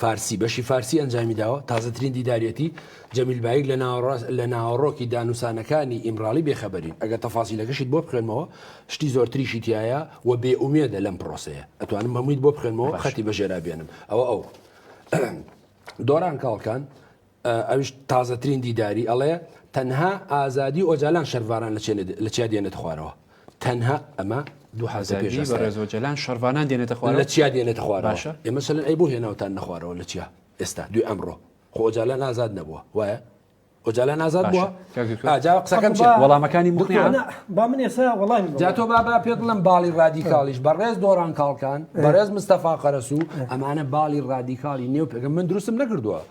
فارسی، بەشی فارسی ئەنجامی داوە، تازەترین دیداریەتی، جەمیل بایک، لە ناوەڕۆکی دانوسانەکانی ئیمراڵی بێخەبەرین، ئەگەر تەفاسیلەکەشیت بۆ بخوێنمەوە شتی زۆرتریشی تیایە و بێ ئومێدە لەم پرۆسەیە، ئەتوانم هەموویت بۆ بخوێنمەوە خەتی بەژێرا بێنم، ئەوە ئەو. دۆران کاڵکان، ئەویش تازەترین دیداری ئەڵێ تەنها ئازادی ئۆجالان شەرڤاران لە چیا دێنێتە خوارەوە تەنها ئەمە دو حەزە پێش بەڕێز ئۆجالان شەرڤانان دێنێتە خوارەوە لە چیا دێنێتە خوارەوە ئێمە سەلەن ئەی بۆ هێناوتان نەخوارەوە لە چیا ئێستا دوی ئەمڕۆ خۆ ئۆجالان ئازاد نەبووە وایە ئۆجالان ئازاد بووە ئاجا قسەکەم چ وەڵامەکانی مخیانە با من ئێستا وەڵامی جا تۆ بابا پێ بڵم باڵی ڕادیکاڵیش بەڕێز دۆڕان کاڵکان بەڕێز مستەفا قەرەسوو ئەمانە باڵی ڕادیکاڵی نێو پێگەم من دروستم نەکردووە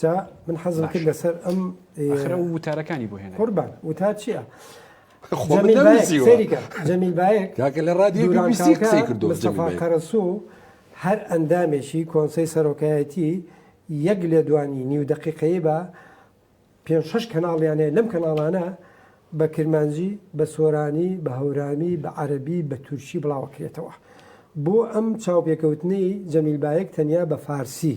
جا من حەزم کرد لەسەر ئەم ئەخرە و وتارەکانی بۆ هێنا قوربان وتا چییە؟ جەمیل باەک لە ڕادیۆ قەرەسو هەر ئەندامێکی کۆنسی سەرۆکایەتی یەک لێدوانی نیو دقیقەیە بە پێ شش کەناڵیانەیە لەم کەناڵانە بە کرمانجی بە سۆرانی بە هەورامی بە عەربی بە تورکی بڵاوەکرێتەوە بۆ ئەم چاوپێکەوتنی جەمیل باەک تەنیا بە فارسی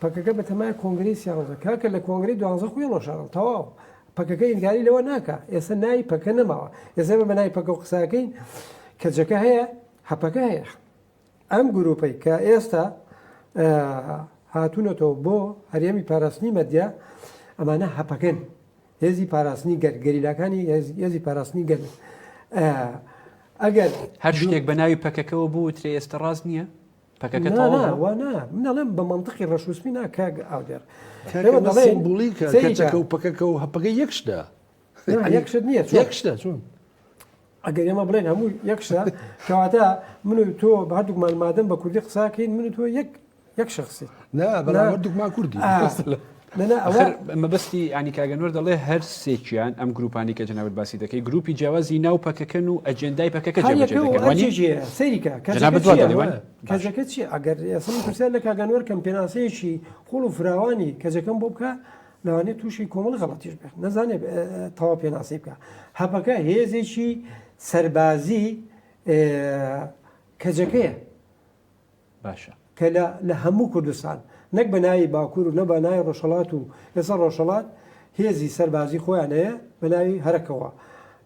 پەکەکە بەتەمایە کۆنگرەی سیانزە کاکە لە کۆنگرەی دوانزە خوی ڕۆشاڕن تەواو پەکەکە ئینکاری لەوە ناکا ئێستا ناوی پەکە نەماوە ئێستا بە ناوی پەکە و قساکەین کەجەکە هەیە هەپەکە هەیە ئەم گروپەی کە ئێستا هاتوونەتەوە بۆ هەرێمی پاراستنی مەدیا ئەمانە هەپەکەن هێزی پاراستنی گەر گەریلاکانی هێزی پاراستنی گەر ئەگەر هەر شتێک بە ناوی پەکەکەەوە بووترێ ئێستا ڕاست نییە پەکەکە تەواو نا نا وا نا من دەڵێم بە مەنتقی ڕەش و سپی نا کاک ئاودێڕ کاکە بە سیمبولیکە سەیرە. کەچەکە و پەکەکە و هەپەکە یەک شتە نا، یەک شت نییە، چۆن؟ یەک شتە چۆن ئەگەر ئێمە بڵێن هەموو یەک شتە کەواتە من و تۆ بە هەردووکمان مادەم بە کوردی قساکەین من و تۆ یەک یەک شخصی نا بەڵام هەردووکمان کوردی آه. ئاخر مەبەستی یانی کاک ئەنوەر دەڵێ هەر سێکیان ئەم گرووپانەی کە جەنابت باسی دەکەی گرووپی جیاوازی ناو پەکەکەن و ئەجێندای پەکەکە جێبەجێ دەکەن وانی؟ کاریەکە و ئەرجێ جێ سەیری کە جەنابت کەجەکە وا چییە دەڵێ وانی؟ باشە کەجەکە چییە ئەگەر ئێسم پرسیار لە کاک ئەنوەر کەم پێناسەیەکی قووڵ و فراوانی کەجەکەم بۆ بکا لەوانەیە تووشی کۆمەڵ غەڵەتیش بێ نەزانێ تەواو پێناسەی بکا هەپەکە هێزێکی سەربازی کەجەکەیە. باشە. کە لە لە هەموو کوردستان نەک بە ناوی باکوور و نە بە ناوی ڕۆژهەڵات و ئێستا ڕۆژهەڵات هێزی سەربازی خۆیان هەیە بە ناوی هەرەکەوە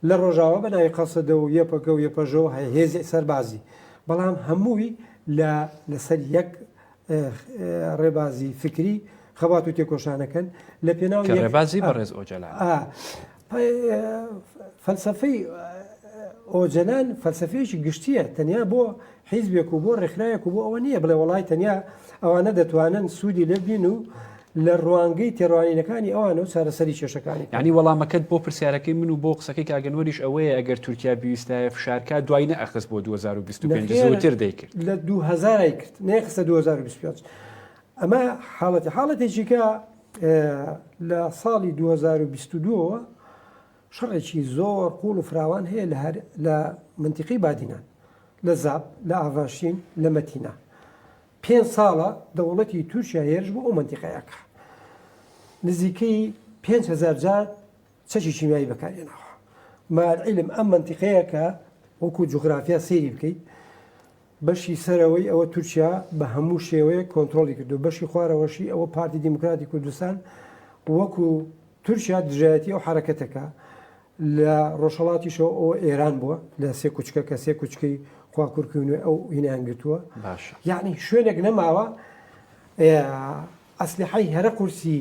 لە ڕۆژاوا بە ناوی قەسەدە و یەپەگە و یەپەژە و هێزی سەربازی بەڵام هەمووی لە لەسەر یەک ڕێبازی فکری خەبات و تێکۆشانەکەن لە پێناو کە یەک ڕێبازی بەڕێز ئۆجەلان ئا فەلسەفەی ئۆجەلان فەلسەفەیەکی گشتییە تەنیا بۆ حیزبێک و بۆ ڕێکخراوێک و بۆ ئەوە نییە بڵێ وەڵای تەنیا ئەوانە دەتوانن سوودی لێ ببین و لە ڕوانگەی تێڕوانینەکانی ئەوانە و چارەسەری کێشەکانی یعنی وەڵامەکەت بۆ پرسیارەکەی من و بۆ قسەکەی کاک ئەنوەریش ئەوەیە ئەگەر تورکیا بیویستایە فشارکا دوای نەئەخست بۆ 2025 زووتر دەیکرد لە 2000 ای کرد نەیخستە 2025 ئەمە حاڵەتی حاڵەتێکی کە لە ساڵی دوو هەزار و بیست و دوو ەوە شەڕێکی زۆر قووڵ و فراوان هەیە لە مەنتیقی بادینان، لە زاپ، لە ئاڤاشین، لە مەتینا. پێنج ساڵە دەوڵەتی تورکیا هێرش بۆ ئەو مەنتیقەیە ئەکا. نزیکەی پێنج هەزار جار چەکی کیمیایی بەکارهێناوە. مع العلم ئەم مەنتیقەیە کە وەکوو جوغرافیا سەیری بکەیت، بەشی سەرەوەی ئەوە تورکیا بە هەموو شێوەیەک کۆنترۆڵی کردووە، بەشی خوارەوەشی ئەوە پارتی دیموکراتی کوردستان وەکو تورکیا دژایەتی ئەو حەرەکەتەکە لە ڕۆژهەڵاتیشەوە ئەوە ئێران بووە لە سێ کوچکە کە سێ کوچکەی خواکورکی نوێ ئەو هینیان گرتووە یعنی شوێنێک نەماوە ئەسلحەی هەرە قورسی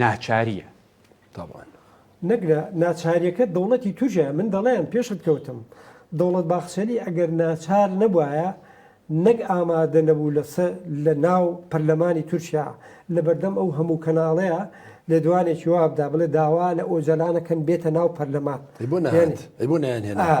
ناچاریە. تەبعەن نەک نا ناچاریەکە دەوڵەتی تورکیایە من دەڵێم پێشت کەوتم دەوڵەت باخچەلی ئەگەر ناچار نەبوایە نەک ئامادە نەبوو لە سە لە ناو پەرلەمانی تورکیا لە بەردەم ئەو هەموو کەناڵەیە لێدوانێکی وابدا بڵێ داوا لە ئۆجەلانەکەن بێتە ناو پەرلەمان ئەی بۆ نەهات ئەی بۆ نایانهێنا ئا.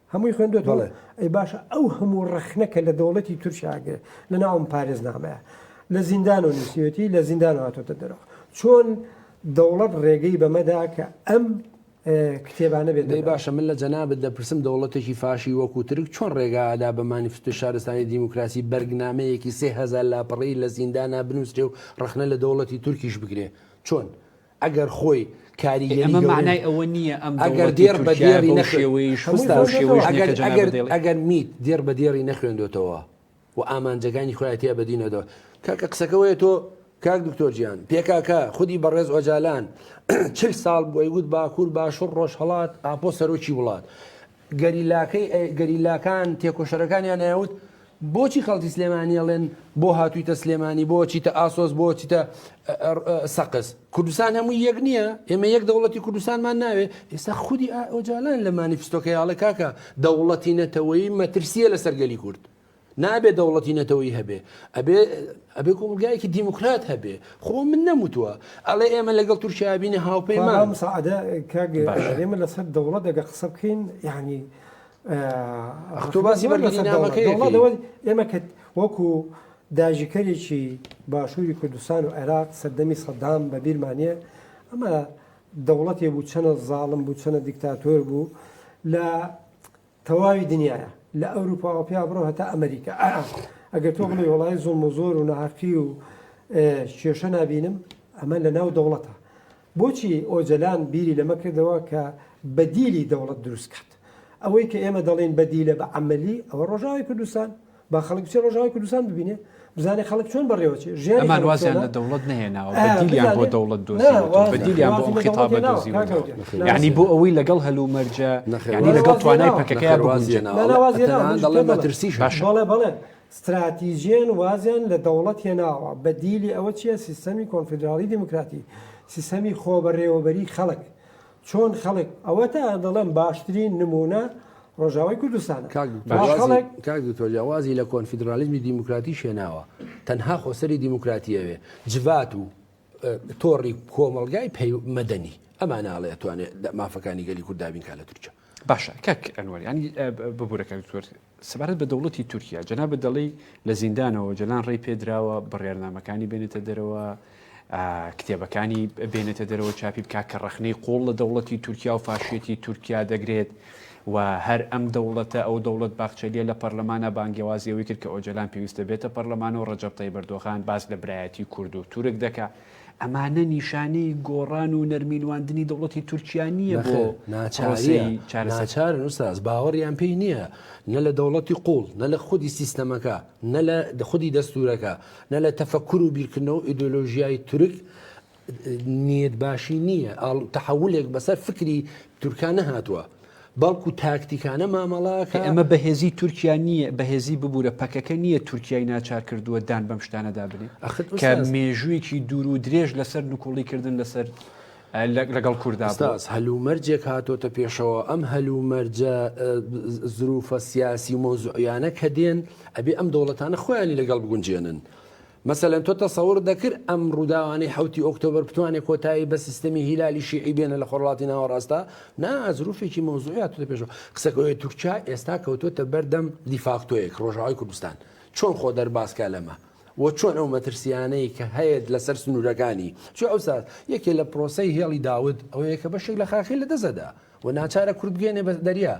هەمووی خوێندۆتەوە؟ بەڵێ. ئەی باشە ئەو هەموو ڕەخنە کە لە دەوڵەتی تورکیا ئەگرێ لە ناو ئەم پارێزنامەیە لە زیندانەوە نووسیوێتی لە زیندانەوە هاتۆتە دەرەوە چۆن دەوڵەت ڕێگەی بەمە دا کە ئەم کتێبانە بێتە دەی دەرەوە؟ باشە من لە جەنابت دەپرسم دەوڵەتێکی فاشی وەکوو ترک چۆن ڕێگا ئەدا بە مانیفستۆی شارستانی دیموکراسی بەرگنامەیەکی سێ هەزار لاپەڕەیی لە زیندانا بنووسرێ و ڕەخنە لە دەوڵەتی تورکیش بگرێ؟ چۆن؟ ئەگەر خۆی کاریگەری گەورەی. ئەمە مەعنای ئەوە نییە ئەم دەوڵەتی تورکیایە بەو شێوەیەیش خستە بەو شێوەیەش نییە کە جەنابت دەیڵێت. ئەگەر میت دێڕ بە دێڕی نەخوێندۆتەوە و ئامانجەکانی خۆی تیا بەدی نەدۆ. کاکە قسەکە وەیە تۆ کاک دکتۆر جیان پێکاکە خودی بەڕێز ئۆجالان چل ساڵ بۆی وت باکوور باشوڕ ڕۆژهەڵات ئاپۆ سەرۆکی وڵات. گەریلاکەی گەریلاکان تێکۆشەرەکانیان ئەیانوت بۆچی خەڵکی سلێمانی ئەڵێن بۆ هاتوویتە سلێمانی بۆ چیتە ئاسۆس بۆ چیتە سەقز کوردستان هەموو یەک نییە ئێمە یەک دەوڵەتی کوردستانمان ناوێ ئێستا خودی ئۆجالان لە مانیفستۆکەیاڵە کاکە دەوڵەتی نەتەوەی مەترسیە لەسەر گەلی کورد نابێ دەوڵەتی نەتەوەی هەبێ ئەبێ ئەبێ کۆمەلگایەکی دیموکرات هەبێ خۆ من نەموتوە ئەڵێ ئێمە لەگەڵ تورکیا بینە هاوپەیمان مساعدە ئێمە لەسەر دەوڵەت دەگە قسە بکەین یعنی ئەختۆ باسی بەرگەسەدەوڵەکەی ئێمە کە وەکو داژیکەرێکی باشووری کوردستان و عێراق سەردەمی سەدام بە بیرمانە ئەمە دەوڵەتێ بوو چەنە زاڵم بوو چەنە دیکتاتۆر بوو لە تەواوی دنیایە لە ئەوروپاوە پیا بڕۆ هەتا ئەمریکا ئەگەر تۆ بڵێی وەڵایی زوڵم و زۆر و ناهەقی و کێشە نابینم ئەمە لە ناو دەوڵەتە بۆچی ئۆجەلان بیری لەمە کردەوە کە بەدیلی دەوڵەت دروستکات ئەوەی کە ئێمە دەڵین بەدیلە بە عملی ئەوە ڕۆژاوی کوردستان با خەڵک بچێ ڕۆژاوای کوردستان ببینێ بزانێ خەڵک چۆن بەڕێوەچێ ژیان ئەمان وازیان لە دەوڵەت نهێناوە دیلیان بۆ دەوڵەت دۆزیلیان بۆ خیتاب دۆزی یعنی بۆ ئەوەی لەگەڵ هەلو مەرجە نەخێنی لەگەڵ توانای پەکەکەیان بگونجێنەوەڵێ مەترسیش بەڵێ بەڵێ استراتیژیان وازیان لە دەوڵەت هێناوە بە دیلی ئەوە چیە سیستەمی کۆنفیدراڵی دیموکراتی سیستەمی خۆ بەڕێوەبەری خەڵک چۆن خەڵک ئەوەتا دەڵێم باشترین نمونە ڕۆژاوای کوردستانە کاک دکتۆر جیاوازی لە کۆنفیدرالیزمی دیموکراتیش هێناوە تەنها خۆسەری دیموکراتی ئەوێ جڤات و تۆڕی کۆمەلگای پەی مەدەنی ئەمان ناڵێ توانێت مافەکانی گەلی کورددابین کا لە تورکیا باشە کاک ئەنوەر ینی ببوورەکە دکتۆر سەبارەت بە دەوڵەتی تورکیا، جەنابت دەڵێی لە زیندانەوە ئۆجەلان ڕێی پێ دراوە بڕیارنامەکانی بێنێتە دەرەوە، کتێبەکانی بێنێتە دەرەوە چاپی بکات کە ڕەخنەی قوڵ لە دەوڵەتی تورکیا و فاشیەتی تورکیا دەگرێت و هەر ئەم دەوڵەتە ئەو دەوڵەت باخچەلیە لە پەرلەمانە بانگەوازیەوەی کرد کە ئۆجەلان پێویستە بێتە پەرلەمانەوە ڕەجەب تەیب ئەردۆغان باس لە برایەتی کورد و تورک دەکا ئەمانە نیشانەی گۆڕان و نەرمینواندنی دەوڵەتی تورکیا نییە بۆ نەخێر ناچاریە پرۆسەی چارەسەر. ناچارن ئوستاز باوەڕیان پێی نییە نە لە دەوڵەتی قووڵ نە لە خودی سیستەمەکە نە لە خودی دەستورەکە نە لە تەفەکر و بیرکردنەوە و ئیدۆلۆژیای تورک نیەت باشی نییە ئاڵ تەحولێک بەسەر فکری تورکا نەهاتووە. بەڵکو تاکتیکانە مامەڵەکە. ئەمە بەهێزی تورکیا نییە، بەهێزی ببورە پەکەکە نییە تورکیای ناچار کردووە دان بەم شتانەدا بنێ کە مێژوویەکی دوور و درێژ لەسەر نکوڵی کردن لەسەر لەگەڵ کووردا هەلومەرجێک هاتۆتە پێشەوە ئەم هەلومەرجە زروفە سیاسی و مۆزعیانە کە دێن ئەبێ ئەم دەوڵەتانە خۆیانی لەگەڵ بگونجێنن مەسەلەن تۆ تەسەور دەکرد ئەم ڕووداوانەی حەوتی ئۆکتۆبەر بتوانێت کۆتایی بە سیستەمی هیلالی شیعی بێنە لە خۆرڵاتی ناوەڕاستە نا زروفێکی مەوزوعی هاتوتە پێشەوە قسەکەوەی تورکیا ئێستا کەوتوتە بەردەم دیفاکتۆیەک ڕۆژاوای کوردستان چۆن خۆ دەربازکە لەمە و چۆن ئەو مەترسیانەی کە هەیەت لەسەر سنوورەکانی چ ئەوسا یەکێ لە پرۆسی هێڵی داود ئەوەیە کە بەشێک لە خاخی لە دەزەدا و ناچارە کورد بگەێنێ بە دەریا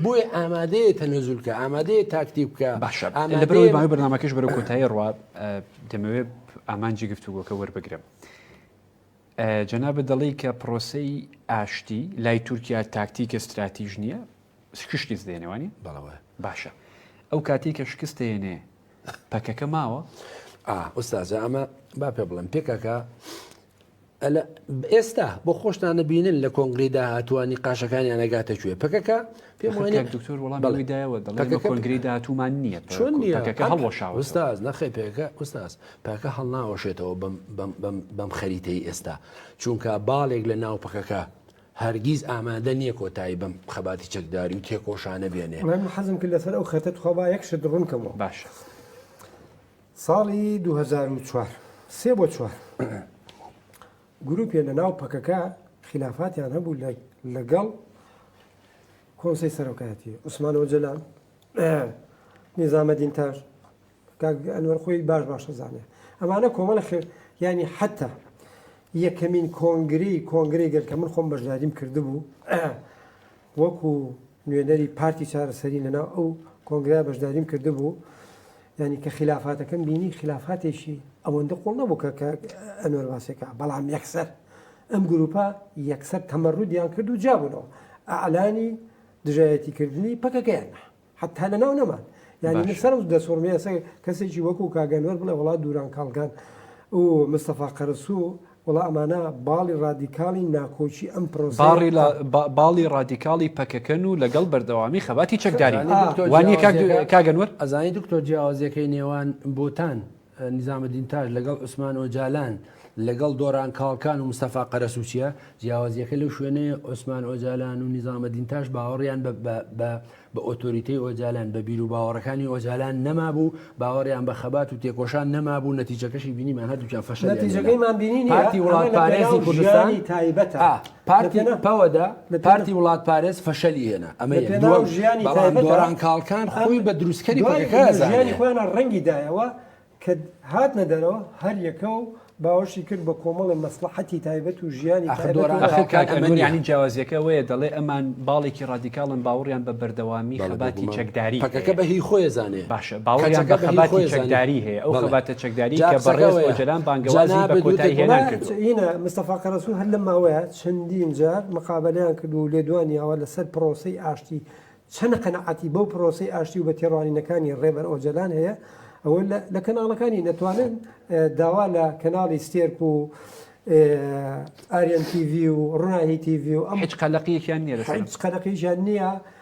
بۆیە ئامادەیە تەنەزول کە ئامادەیە تاکتی بکە باشە لەبەرەوەی باوی بەنامەکەش بەرە کۆتایی ڕوا دەمەوێ ئامانجی گفتوگۆکە وەربگرم. جەنابە دەڵی کە پرۆسی ئاشتی لای تورکیا تاکتیکە استراتیژ نییە شکشتی دێنەوەنی بەڵەوە باشە ئەو کاتی کە شکست دێنێ پەکەکە ماوە ئوستازە ئەمە با پێ بڵێم پێکەکە ئەلە ئێستا بۆ خۆشتان نبینن لە کۆنگری داهاتوە نیقاشەکانیان نەگاتە کوێ پکەکە پێم وایە دکتۆر وەڵام بەڵێ. بەڵێ دایەوە دەڵێ پەکەکە بە کۆنگرەی پکەکە. داهاتوومان نییە پە- چۆن نییە پەکەکە ئەم- هەڵوەشاوەتەوە. ئوستاز نەخێ پێکە ئوستاز پاکە هەڵناوەشێتەوە بەم بەم بەم بەم خەریتەی ئێستا چونکە باڵێک لە ناو پەکەکە هەرگیز ئامادە نییە کۆتایی بەم خەباتی چەکداری و تێکۆشانە بێنێ بەڵێ من حەزم کرد لەسەر ئەو خەتە تخوا با یەک شت ڕوون کەمەوە باشە. ساڵی دوو هەزار و چوار سێ بۆ چوار گروپێ لە ناو پەکەکە خلافاتیان هەبوو لەگەڵ کۆنسی سەرۆکایەتی عوسمان ئۆجلان نیزامە دینتاش ئەنوەر خۆی باش باشە زانێ ئەمانە کۆمەڵە ینی حتا یەکەمین کۆنگری کۆنگری گەل کە من خۆم بەشداریم کردبوو وەکو نوێنەری پارتی چارەسەری لەناو ئەو کۆنگرەیە بەشداریم کردبوو ینی کە خلافاتەکەم بینی خلافاتێکی ئەوەندە قوڵ نەبوو کە کە ئەنوەر باسێکە بەڵام یەکسەر ئەم گروپە یەکسەر تەمەڕودیان کرد و جابوونەوە ئەعلانی دژایەتیکردنی پەکەکەیان حەتا لەناو نەمان یعنی من سەرم دەسوڕمێ ئەسە کەسێکی وەکو کاگەنوەر بڵێ وڵا دووران کاڵگان و مستەفا قەرەسوو وڵا ئەمانە باڵی ڕادیکاڵی ناکۆکی ئەم پرۆساڕی لە باڵی ڕادیکاڵی پەکەکەن و لەگەڵ بەردەوامی خەباتی چەکداری وانی کاگەنوەر ئەزانی دکتۆر جیاوازەکەی نێوان بۆتان نیزامەدین تاش لەگەڵ عوسمان ئۆجالان، لەگەڵ دۆران کاڵکان و مستەفا قەرەسووچییە، جیاوازییەکە لەو شوێنەیە عوسمان ئۆجالان و نیزامەدین تاش باوەڕیان بە ئۆتۆریتەی ئۆجالان، بە بیروباوەڕەکانی ئۆجالان نەمابوو، باوەڕیان بە خەبات و تێکۆشان نەمابوو، نەتیجەکەشی بینیمان هەردووکیان فەشەلیان هێنا. پارتی وڵاتپارێزی کوردستان، پارتی پەوەدە پارتی وڵات پارێز فەشەلی هێنا ئەمە ژیانی دۆران کاڵکان خۆی بە دروستکەری ژیانی خۆیانە ڕەنگی دایەوە کە هاتنە دەرەوە هەر یەکە و باوەشی کرد بە کۆمەڵی مەسلحەتی تایبەت و ژیانی ئەخدۆرانەکەمەنیانی جیاوازیەکە وەیە دەڵێ ئەمان باڵێکی ڕادیکاڵن باوەڕیان بە بەردەوامی خەباتی چەکداری پەکەکە بە هی خۆی زانێ باشە باوەڕیان بە خەباتی چەکداری هەیە ئەو خەباتە چەکداری کە بەڕێز ئۆجەلان بانگەوازی بە کۆتایی هێنان کردووە. ئینە مستەفا قەرەسوو هەر لەم ماوەیە چەندین جار مقابەلەیان کردووە و لێدوانییاوە لەسەر پرۆسەی ئاشتی، چەند قەناعەتی بەو پرۆسەی ئاشتی و بە تێڕوانینەکانی ڕێبەر ئۆجەلان هەیە، ئەوە لە کەناڵەکانی نەتوانن داوا لە کەناڵی ستێرک و ئاریەن تیڤی و ڕووناهی تیڤی و ئەم. هیچ قەلەقیەکیان نییە لەسەر ئەم. هیچ قەلەقیەکیان نییە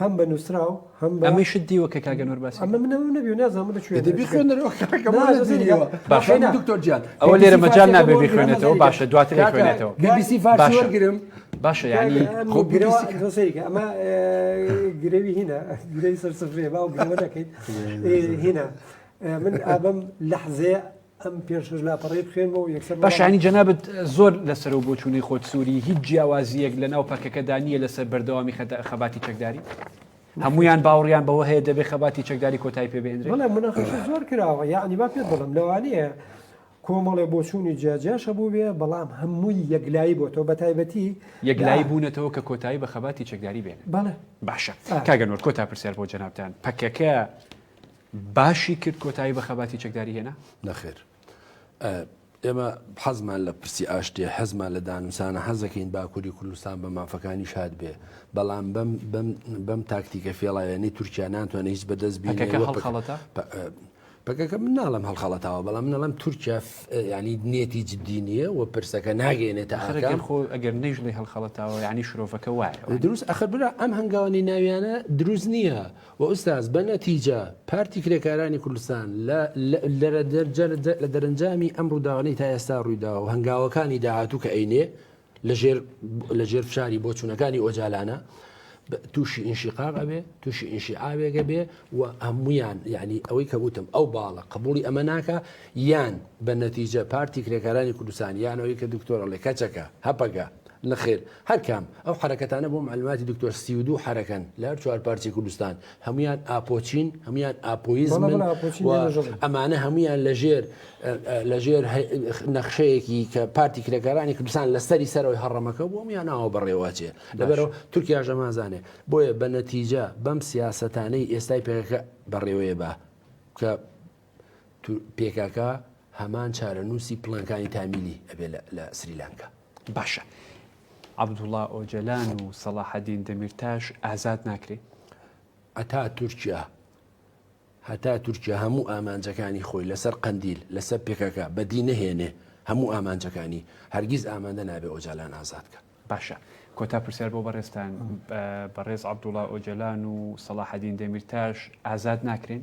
هەم بە نووسراو هەم بە ئەمەی شت دیوە کە کاگە نۆر باسی ئەمە منەوە نەبی نازانم لە کوێ دەبی خوێنەرەوە باشە دکتۆر جیان ئەوە لێرە مەجال نابێ بخوێنێتەوە باشە دواتر خوێنێتەوە بیسی فارسی وەرگرم باشە یعنی خۆ گرێسەرێکە ئەمە گرێوی هینە گرێوی سەر سفرێ باو گرەوە دەکەیت هینە من ئابم لەحزەیە ئەم پێشش لاپەڕی بخێنەوە یەکسەر بەشانی جەنابەت زۆر لەسەر و بۆچوونەی خۆت سووری هیچ جیاوازیەک لە ناو پەکەکەدا نییە لەسەر بەردەوامی خەباتی چەکداری هەمویان باوڕیان بەوە هەیە دەبێت خەباتی چەکداری کۆتای پێ بێنرێ منەخش زۆر کراوە یعنی با پێ بڵم لەوانەیە کۆمەڵێ بۆچوونی جیاجاشە بوو بێ بەڵام هەمووی یەکلایی بۆ تۆ بە تایبەتی یەکلایی بوونەتەوە کە کۆتایی بە خەباتی چەکداری بێن باشە کاگەنۆر کۆتا پرسیار بۆ جەنابان پەکەکە باشی کرد کۆتایی بە خەباتی چەکداری هێنا؟ نەخێر. ئێمە حەزمان لە پرسی ئاشتێ حەزمان لە دانوسانە حەزەکەین باکووری کوردستان بە مافەکانی شاد بێ بەڵام بەم تاکتیکە فێڵایەنی تورکیا ناتوانێت هیچ بەدەست بینەکە هەڵخەڵەتە؟ بەکەکە من ناڵم هەڵخەڵەتەوە بەڵام نەڵم تورکیا ینی نێتی جددی نییە و پرسەکە ناگەێنێتە ئەخەکان خۆ ئەگەر نەیژڵی هەڵخەڵەتەوە ینی شرۆڤەکە وایە دروست ئەخر برا ئەم هەنگاوانی ناویانە دروست نییە وە ئوستاز بە نەتیجە پارتی کرێکارانی کوردستان لە لە دەرەنجامی ئەم ڕووداوانەی تا ئێستا ڕوویداوە و هەنگاوەکانی داهاتوو کە ئەینێ لە ژێر لە ژێر فشاری بۆچوونەکانی ئۆجالانە تووشی ئینشیقاق ئەبێ تووشی ئینشیعاوێگە بێ و هەمویان یعنی ئەوەی کە وتم ئەو باڵە قبولی ئەمە ناکە یان بە نەتیجە پارتی کرێکارانی کوردستان یانەوەی کە دکتۆرە ڵێ کەچەکە هەپەگە نەخێر هەر کام، ئەو حەرەکەتانە بۆ معلوماتی دکتۆر سی و دوو حەرەکەن لە هەر چوار پارچەی کوردستان، هەموویان ئاپۆچین، هەموویان ئاپۆیزمن و ئەمانە هەموویان لە ژێر لە ژێر نەخشەیەکی کە پارتی کرێکارانی کوردستان لە سەری سەرەوەی هەڕەمەکە بووە هەموویان ناوە بەڕێواچێ لەبەرەوە تورکیاش ئەمانزانێ بۆیە بە نەتیجە بەم سیاسەتانەی ئێستای پەکەکە بەڕێوەیە با کە پێکاکا هەمان چارەنووسی پڵنگانی تامیلی ئەبێ لە سریلانکا باشە عبدوڵا ئۆجەلان و سەڵاحەدین دەمیرتاش ئازاد ناکرێت ئەتا تورکیا هەتا تورکیا هەموو ئامانجەکانی خۆی لەسەر قندیل لەسەر پێکەکە بەدی نەهێنێ هەموو ئامانجەکانی هەرگیز ئامادە نابێ ئۆجالان ئازادکە باشە کۆتا پرسیار بۆ بەڕێستان بەڕێز عبدوڵا ئۆجلان و سەڵاحەدین دەمیرتاش ئازاد ناکرێن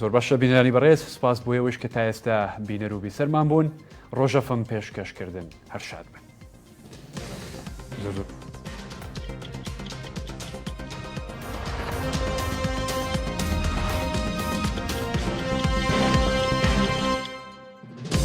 زۆر باشە بینەرانی بەڕێز سپاس بۆ ئەوەیش کە تا ئێستا بینەر و بیسەرمان بوون ڕۆژەفم پێشکەشکردن هەر شاد بن. زۆر زۆر.